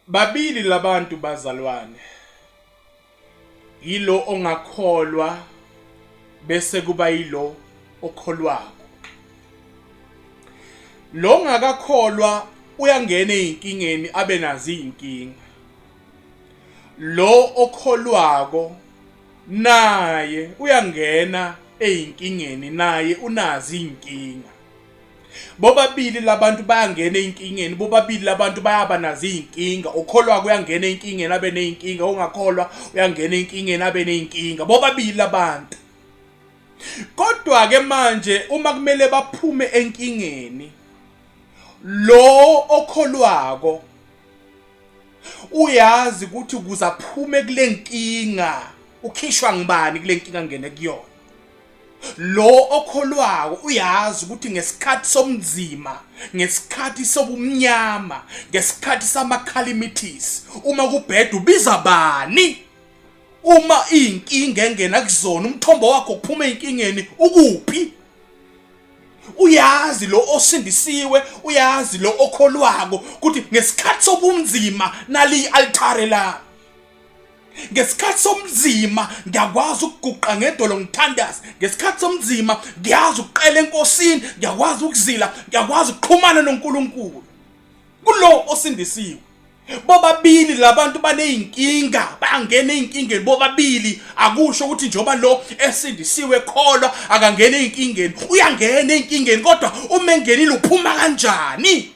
babili labantu bazalwane yilo ongakholwa bese kuba yilo okholwako lo ngakakholwa uyangena ezinkingeni abe nazi izinkinga lo okholwako naye uyangena ezinkingeni naye unazi izinkinga bobabili labantu bayangena ezinkingeni bobabili labantu bayaba nazo izinkinga okholwa kuyangena ezinkingeni abe nezinkinga ongakholwa uyangena ezinkingeni abe nezinkinga bobabili labantu kodwa ke manje uma kumele baphume enkingeni lo okholwako uyazi ukuthi kuze aphume kule nkinga ukhishwa ngibani kule nkinga ngene kuyona lo okholwako uyazi ukuthi ngesikhathi somnzima ngesikhathi sobumnyama ngesikhathi samakhalimitis uma kubheda ubiza bani uma inkinga engena kuzona umthombo wakho kuphuma einkingeni ukuphi uyazi lo osindisiwe uyazi lo okholwako ukuthi ngesikhathi sobunzima nali altare la ngesikhathi somzima ngiyakwazi ukuguqa ngedolo ngithandaze ngesikhathi somzima ngiyazi ukuqela enkosini ngiyakwazi ukuzila ngiyakwazi ukuxhumana noNkulunkulu kulo osindisiwe bobabili labantu baneyinkinga bangena ezinkingeni bobabili akusho ukuthi njoba lo esindisiwe kholwa akangena ezinkingeni uyangena ezinkingeni kodwa uma engenile uphuma kanjani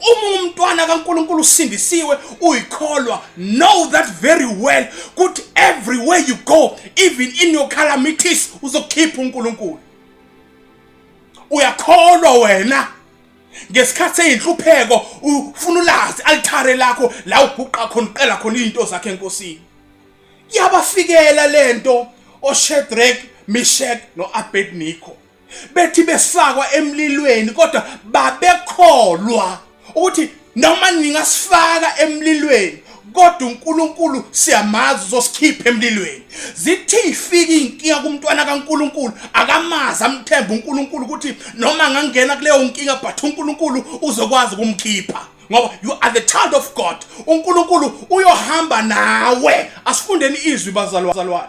uma umntwana kaNkuluNkulu usindisiwe uyikholwa know that very well ukuthi everywhere you go even in your calamities uzokhipha uNkuluNkulu uyakholwa wena ngesikhathi eyinhlupheko ufuna ulazi alithare lakho la uguqa khona uqela khona izinto zakhe enkosini yabafikela lento oShedrack Meshach noAbednego bethi befakwa emlilweni kodwa babekholwa ukuthi noma ningasifaka emlilweni kodwa uNkulunkulu siyamazi uzosikhipha emlilweni zithi ifika inkinga kumntwana kaNkuluNkulu akamazi amthemba uNkuluNkulu ukuthi noma ngangena kuleyo nkinga but uNkuluNkulu uzokwazi ukumkhipha ngoba you are the child of God uNkulunkulu uyohamba nawe asifundeni izwi bazalwane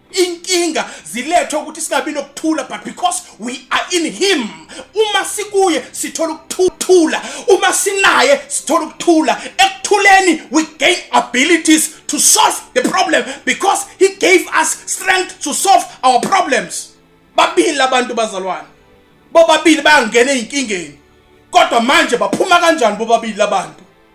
inkinga zilethwe ukuthi singabi nokuthula but because we are in him uma sikuye sithola ukuthula uma sinaye sithola ukuthula ekuthuleni we gain abilities to solve the problem because he gave us strength to solve our problems babili abantu bazalwane bobabili bayangena ezinkingeni kodwa manje baphuma kanjani bobabili labantu